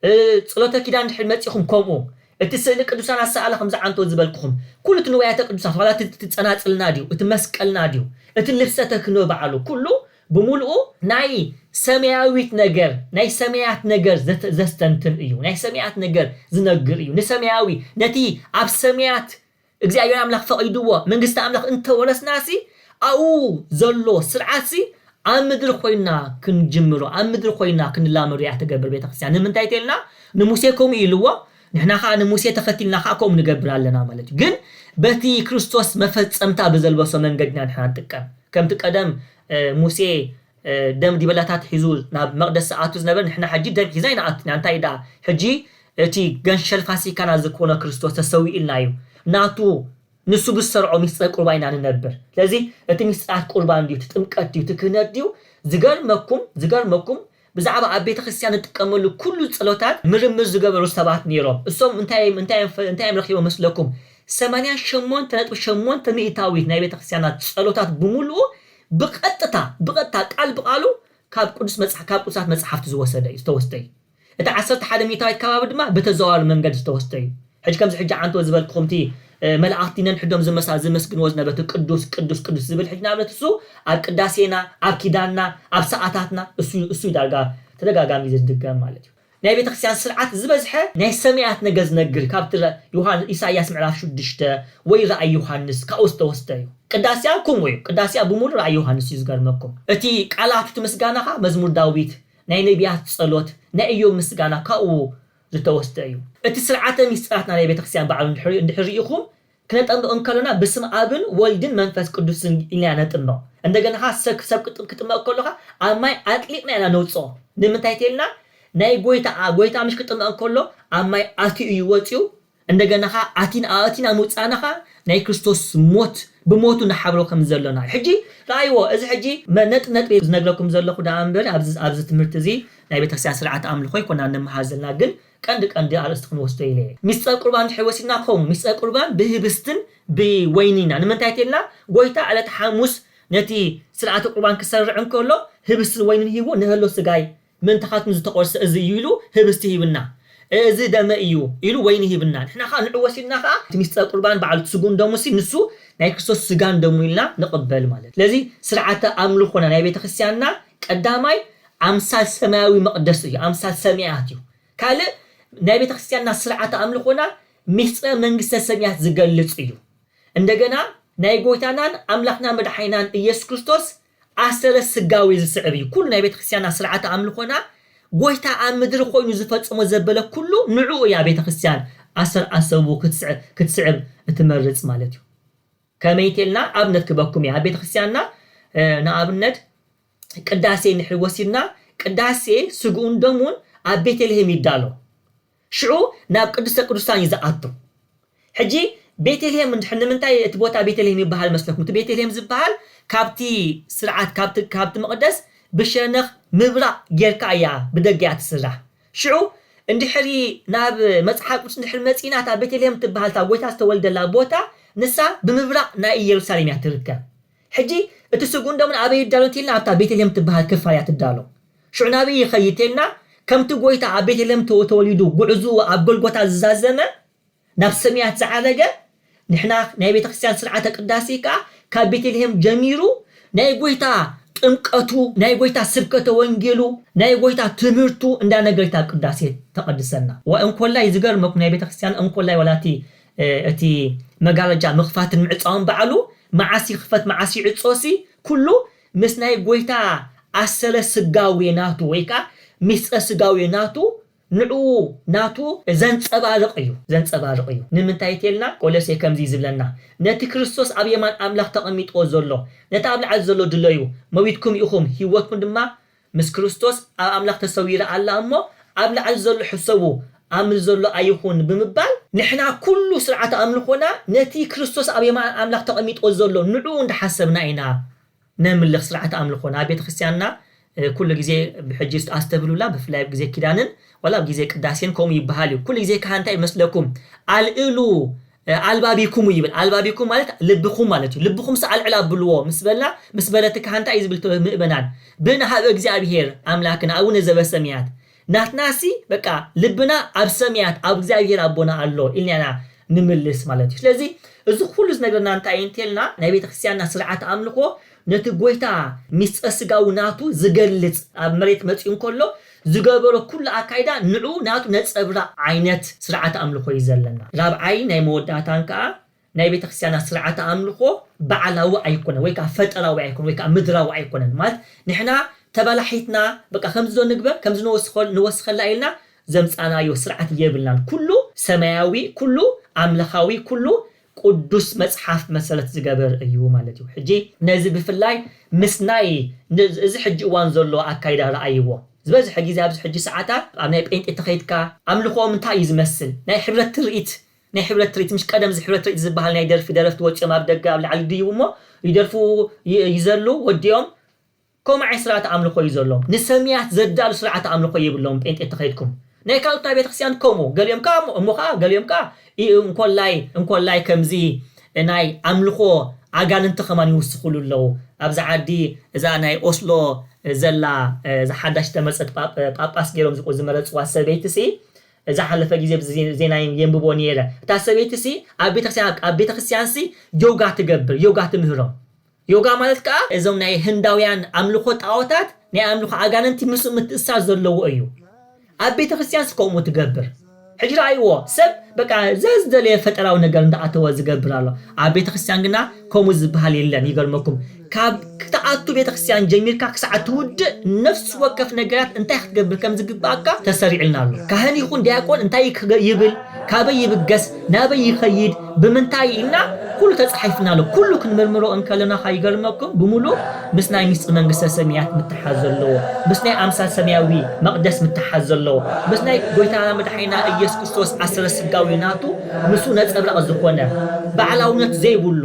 እ ጽሎተ ኪዳን ድሕሪ መጺኹም ከምኡ። እቲ ስእሊ ቅዱሳን ኣሰኣእላ ከም ዝዓንቶ ዝበልክኹም። ኩሉ እቲ ንዋያተ ቅዱሳት ዋላ እቲ እቲ ጸናጽልና ድዩ እቲ መስቀልና ድዩ እቲ ልብሰ ተክህኖ ባዕሉ ኩሉ ብምሉኡ። ናይ ሰማያዊት ነገር ናይ ሰማያት ነገር ዘተ ዘስተንትን እዩ። ናይ ሰማያት ነገር ዝነግር እዩ። ንሰማያዊ ነቲ ኣብ ሰማያት እግዚኣብሔር ኣምላኽ ፈቒድዎ መንግስቲ ኣምላኽ እንተወረስናሲ ኣብኡ ዘሎ ስርዓትሲ ኣብ ምድሪ ኮይና ክንጅምሮ ኣብ ምድሪ ኮይና ክንላመዶ እያ ትገብር ቤተክርስትያን ንምንታይ ተልና ንሙሴ ከምኡ ኢልዎ ንሕና ከኣ ንሙሴ ተኸቲልና ከኣ ከምኡ ንገብር ኣለና ማለት እዩ ግን በቲ ክርስቶስ መፈጸምታ ብዘልበሶ መንገድ ኢና ንሕና ንጥቀም ከምቲ ቀደም ሙሴ ደም ዲበላታት ሒዙ ናብ መቕደስ ዝኣቱ ዝነበረ ንሕና ሕጂ ደም ሒዝና ኣይንኣቱን ኢና እንታይ ደኣ ሕጂ እቲ ገንሸል ፋሲካና ዝኮነ ክርስቶስ ተሰዊኡልና እዩ ናቱ ንሱ ብዝሰርዖ ምስጢረ ቁርባን ኢና ንነብር ስለዚ እቲ ምስጢራት ቁርባን ድዩ እቲ ጥምቀት ድዩ እቲ ክህነት ድዩ ዝገርመኩም ዝገርመኩም ብዛዕባ ኣብ ቤተክርስትያን ንጥቀመሉ ኩሉ ጸሎታት ምርምር ዝገበሩ ሰባት ኔሮም እሶም እንታይ እም እንታይ እም እንታይ እም ረኪቦም መስለኩም ሰማንያ ሸሞንተ ነጥቢ ሸሞንተ ሚእታዊት ናይ ቤተክርስትያና ጸሎታት ብምሉኡ ብቐጥታ ብቐጥታ ቃል ብቓሉ ካብ ቅዱስ መጽሓ ካብ ቅዱሳት መጽሓፍቲ ዝወሰደ እዩ ዝተወስደ እዩ። እቲ ዓሰርተ ሓደ ሚእታዊት ከባቢ ድማ ብተዘዋዋሪ መንገዲ ዝተወስደ እዩ። ሕጂ ከምዚ ሕጂ ዓንተወ ዝበልክኹም እቲ መላእኽቲ ነንሕዶም ዝመሳ ዝመስግንዎ ዝነበ እቲ ቅዱስ ቅዱስ ቅዱስ ዝብል ሕጂ ንኣብነት እሱ ኣብ ቅዳሴና ኣብ ኪዳንና ኣብ ሰዓታትና እሱ እዩ እሱ እዩ ዳርጋ ተደጋጋሚ ዝድገም ማለት እዩ። ናይ ቤተክርስቲያን ስርዓት ዝበዝሐ ናይ ሰመያት ነገር ዝነግር ካብቲ ዮሃን ኢሳይያስ ምዕራፍ ሽዱሽተ ወይ ራእይ ዮሃንስ ካብኡ ዝተወስደ እዩ። ቅዳሴኣ ክምኡ እዩ። ቅዳሴኣ ብምሉእ ራእይ ዮሃንስ እዩ ዝገርመኩም እቲ ቃላቱ እቲ ምስጋና ከኣ መዝሙር ዳዊት ናይ ነብያት ጸሎት ናይ እዮብ ምስጋና ካብኡ ዝተወስደ እዩ። እቲ ስርዓተ ምስጢራትና ናይ ቤተክርስቲያን ባዕሉ እንድሕር እንድሕር ርኢኹም ክነጠምቅ እንከሎና ብስም ኣብን ወልድን መንፈስ ቅዱስን ኢልና ኢና ነጥምቅ እንደገና ከኣ ሰብ ሰብ ክጥምቅ ከሎ ከኣ ኣብ ማይ ኣጥሊቅና ኢና ነውጽኦ ንምንታይ ተልና ናይ ጎይታ ኣ ጎይታ ምሽ ክጥመቅ እንከሎ ኣብ ማይ ኣትዩ እዩ ወጽዩ እንደገና ከኣ ኣቲና ኣእቲና ምውጻእና ከኣ ናይ ክርስቶስ ሞት ብሞቱ ንሓብሮ ከም ዘሎና እዩ ሕጂ ረኣይዎ እዚ ሕጂ ነጥቢ ነጥቢ ዝነግረኩም ዘለኩ ደኣ እንበሪ ኣብዚ ኣብዚ ትምህርቲ እዚ ናይ ቤተክርስትያን ስርዓተ ኣምልኮ ኣይኮናን ንምሃር ዘለና ግን ቀንዲ ቀንዲ ኣርእስቲ ክንወስዶ ኢለ እየ። ምስጢረ ቍርባን እንድሕር ወሲድና ከምኡ፣ ምስጢረ ቍርባን ብህብስትን ብወይንን ኢና። ንምንታይ እንተይልና፣ ጐይታ ዕለተ ሓሙስ ነቲ ሥርዓተ ቍርባን ክሠርዕ እንከሎ፣ ህብስትን ወይንን ሂቡ ንሀሎ ሥጋይ ምእንታኻትኩም ዝተቈርሰ እዚ እዩ ኢሉ ህብስቲ ሂብና፣ እዚ ደመይ እዩ ኢሉ ወይኒ ሂብና። ንሕና ኸኣ ንዕኡ ወሲድና ኸኣ እቲ ምስጢረ ቍርባን ባዕሉ እቲ ሥግኡን ደሙንሲ ንሱ ናይ ክርስቶስ ሥጋን ደሙን ኢልና ንቕበል ማለት እዩ። ስለዚ ሥርዓተ ኣምልኾና ናይ ቤተክርስትያንና ቀዳማይ ኣምሳል ሰማያዊ መቕደስ እዩ፣ ኣምሳል ሰማያት እዩ። ካልእ ናይ ቤተ ክርስቲያንና ስርዓተ ኣምልኾና ምስጢረ መንግስተ ሰማያት ዝገልጽ እዩ። እንደገና ናይ ጎይታናን ኣምላኽና መድሓኒናን ኢየሱስ ክርስቶስ ኣሰረ ስጋዌ ዝስዕብ እዩ። ኩሉ ናይ ቤተ ክርስቲያንና ስርዓተ ኣምልኾና ጎይታ ኣብ ምድሪ ኮይኑ ዝፈጸሞ ዘበለ ኩሉ ንዕኡ እያ ቤተ ክርስቲያን ኣሰር ኣሰቡ ክትስዕብ እትመርጽ ማለት እዩ። ከመይቴልና ኣብነት ክበኩም እየ ኣብ ቤተ ክርስቲያንና ንኣብነት ቅዳሴ እንድሕሪ ወሲድና ቅዳሴ ስግኡን ደሙን ኣብ ቤተልሄም ይዳሎ ሽዑ ናብ ቅድስተ ቅዱሳን እዩ ዝኣቱ ሕጂ ቤተልሄም እንድሕር ንምንታይ እቲ ቦታ ቤተልሄም ይበሃል መስለኩም እቲ ቤተልሄም ዝበሃል ካብቲ ስርዓት ካብቲ ካብቲ መቕደስ ብሸነኽ ምብራቕ ጌርካ እያ ብደገ እያ ትስራሕ ሽዑ እንድሕሪ ናብ መጽሓፍ ቅዱስ እንድሕር መጺእና እታ ቤተልሄም ትበሃል እታ ጎይታ ዝተወልደላ ቦታ ንሳ ብምብራቕ ናይ ኢየሩሳሌም እያ ትርከብ ሕጂ እቲ ስግኡን ደሙን ኣበይ ይዳሎ እንተኢልና ኣብታ ቤተልሄም እትበሃል ክፋል እያ ትዳሎ። ሽዑ ናብይ ይኸይድ እንተኢልና ከምቲ ጐይታ ኣብ ቤተልሄም ተወሊዱ ጕዕዞኡ ኣብ ጐልጐታ ዝዛዘመ ናብ ሰማያት ዝዓረገ ንሕና ናይ ቤተ ክርስቲያን ሥርዓተ ቅዳሴ ከኣ ካብ ቤተልሄም ጀሚሩ ናይ ጐይታ ጥምቀቱ ናይ ጐይታ ስብከተ ወንጌሉ ናይ ጐይታ ትምህርቱ እንዳነገሪት ኣብ ቅዳሴ ተቐድሰና። ዋይ እንኮላይ ዝገርመኩም ናይ ቤተ ክርስቲያን እንኮላይ ዋላ እቲ እቲ መጋረጃ ምኽፋትን ምዕጻውን ባዕሉ፣ መዓስ ይኽፈት መዓስ ይዕጾሲ፣ ኩሉ ምስ ናይ ጎይታ ኣሰረ ስጋዌ ናቱ ወይ ከኣ ምስጢረ ስጋዌ ናቱ ንዕኡ ናቱ ዘንጸባርቕ እዩ ዘንጸባርቕ እዩ። ንምንታይ እተልና ቆሎሴ ከምዚ ዝብለና ነቲ ክርስቶስ ኣብ የማን ኣምላኽ ተቐሚጥዎ ዘሎ ነቲ ኣብ ላዕሊ ዘሎ ድለዩ መዊትኩም ኢኹም ሂወትኩም ድማ ምስ ክርስቶስ ኣብ ኣምላኽ ተሰዊራ ኣላ እሞ ኣብ ላዕሊ ዘሎ ሕሰቡ ኣብ ምድሪ ዘሎ ኣይኹን ብምባል፣ ንሕና ኩሉ ስርዓተ ኣምልኾና ነቲ ክርስቶስ ኣብ የማን ኣምላኽ ተቐሚጦ ዘሎ ንዕኡ እንዳሓሰብና ኢና ነምልኽ፣ ስርዓተ ኣምልኾና ኣብ ቤተክርስትያንና ኩሉ ግዜ ብሕጂ ኣስተብህሉላ ብፍላይ ኣብ ግዜ ኪዳንን ዋላ ኣብ ግዜ ቅዳሴን ከምኡ ይብሃል እዩ ኩሉ ግዜ ካህን እንታይ ይመስለኩም ኣልእሉ ኣልባቢኩም ይብል ኣልባቢኩም ማለት ልብኹም ማለት እዩ ልብኹም ሰኣልዕል ኣብልዎ ምስ በላ ምስ በለት ከኣ እንታይ እዩ ዝብል እቲ ምእመናን ብእና ኀበ እግዚኣብሔር ኣምላክነ ኣቡነ ዘበሰምያት ናትናሲ በቃ ልብና ኣብ ሰምያት ኣብ እግዚኣብሔር ኣቦና ኣሎ ኢልና ኢና ንምልስ ማለት እዩ ስለዚ እዚ ኩሉ ዝነግረና እንታይ እዩ እንተልና ናይ ቤተክርስትያንና ስርዓተ ኣምልኾ ነቲ ጐይታ ምስጢረ ስጋዊ ናቱ ዝገልጽ ኣብ መሬት መጺኡ እንከሎ ዝገበሮ ኩሉ ኣካይዳ ንዕኡ ናቱ ነጸብራቕ ዓይነት ስርዓተ ኣምልኾ እዩ ዘለና። ራብዓይን ናይ መወዳእታን ከኣ ናይ ቤተ ክርስትያና ስርዓተ ኣምልኾ ባዕላዊ ኣይኮነን ወይ ከኣ ፈጠራዊ ኣይኮነን ወይ ከኣ ምድራዊ ኣይኮነን ማለት ንሕና ተበላሒትና በቃ ከምዚዶ ንግበር ከምዚ ንወስኸሉ ንወስኸላ ኢልና ዘምጻእናዮ ስርዓት የብልናን ኩሉ ሰማያዊ ኩሉ ኣምላኻዊ ኩሉ ቁዱስ መጽሓፍ መሰረት ዝገበር እዩ ማለት እዩ ሕጂ ነዚ ብፍላይ ምስ ናይ እዚ ሕጂ እዋን ዘሎ ኣካይዳ ርኣይዎ ዝበዝሐ ግዜ ኣብዚ ሕጂ ሰዓታት ኣብ ናይ ጴንጤ ተኸይድካ ኣምልኾኦም እንታይ እዩ ዝመስል ናይ ሕብረት ትርኢት ናይ ሕብረት ትርኢት ምሽ ቀደም እዚ ሕብረት ትርኢት ዝብሃል ናይ ደርፊ ደረፍቲ ወጺኦም ኣብ ደገ ኣብ ላዕሊ ይድይቡ እሞ ይደርፉ ይዘሉ ወዲኦም ከምኡ ዓይነት ስርዓተ ኣምልኾ እዩ ዘሎም ንሰምያት ዘዳሉ ስርዓተ ኣምልኾ የብሎምን ጴንጤ ተኸይድኩም ናይ ካልኦታ ቤተክርስትያን ከምኡ ገሊኦም ከኣ እሞ ከኣ ገሊኦም ከኣ እንኮላይ እንኮላይ ከምዚ ናይ ኣምልኾ ኣጋንንቲ ከማን ይውስኹሉ ኣለዉ ኣብዚ ዓዲ እዛ ናይ ኦስሎ ዘላ እዛ ሓዳሽ ዝተመርጸት ጳጳስ ጌሮም ዝመረጽዋ ሰበይቲሲ ዝሓለፈ ግዜ ኣብዚ ዜና የንብቦ ኔረ እታ ሰበይቲሲ ኣብ ቤተክርስትያን ኣብ ቤተክርስትያንሲ ዮጋ ትገብር ዮጋ ትምህሮም ዮጋ ማለት ከኣ እዞም ናይ ህንዳውያን ኣምልኾ ጣኦታት ናይ ኣምልኾ ኣጋንንቲ ምስኡ ምትእስሳር ዘለዎ እዩ። ኣብ ቤተክርስትያንስ ከምኡ ትገብር። ሕጂ ረኣይዎ ሰብ በቃ ዘዝደለየ ፈጠራዊ ነገር እንዳኣተወ ዝገብር ኣሎ። ኣብ ቤተክርስትያን ግና ከምኡ ዝበሃል የለን ይገርመኩም ካብ ክትኣቱ ቤተክርስትያን ጀሚርካ ክሳዕ ትውድእ ነፍሲ ወከፍ ነገራት እንታይ ክትገብር ከምዝግበኣካ ተሰሪዕልና ኣሎ። ካህን ይኹን ዲያቆን እንታይ ይብል ካበይ ይብገስ ናበይ ይኸይድ ብምንታይ ኢልና ኩሉ ተጻሒፍና ኣሎ ኩሉ ክንምርምሮ እንከለና ካይገርመኩም ብምሉእ ምስ ናይ ምስጢር መንግስተ ሰሚያት ምትሓዝ ዘለዎ ምስ ናይ ኣምሳል ሰሚያዊ መቅደስ ምትሓዝ ዘለዎ ምስ ናይ ጎይታና መድሓኒና እየሱስ ክርስቶስ ኣሰረ ስጋዊ ናቱ ንሱ ነጸብራቅ ዝኾነ ባዕላውነት ዘይብሉ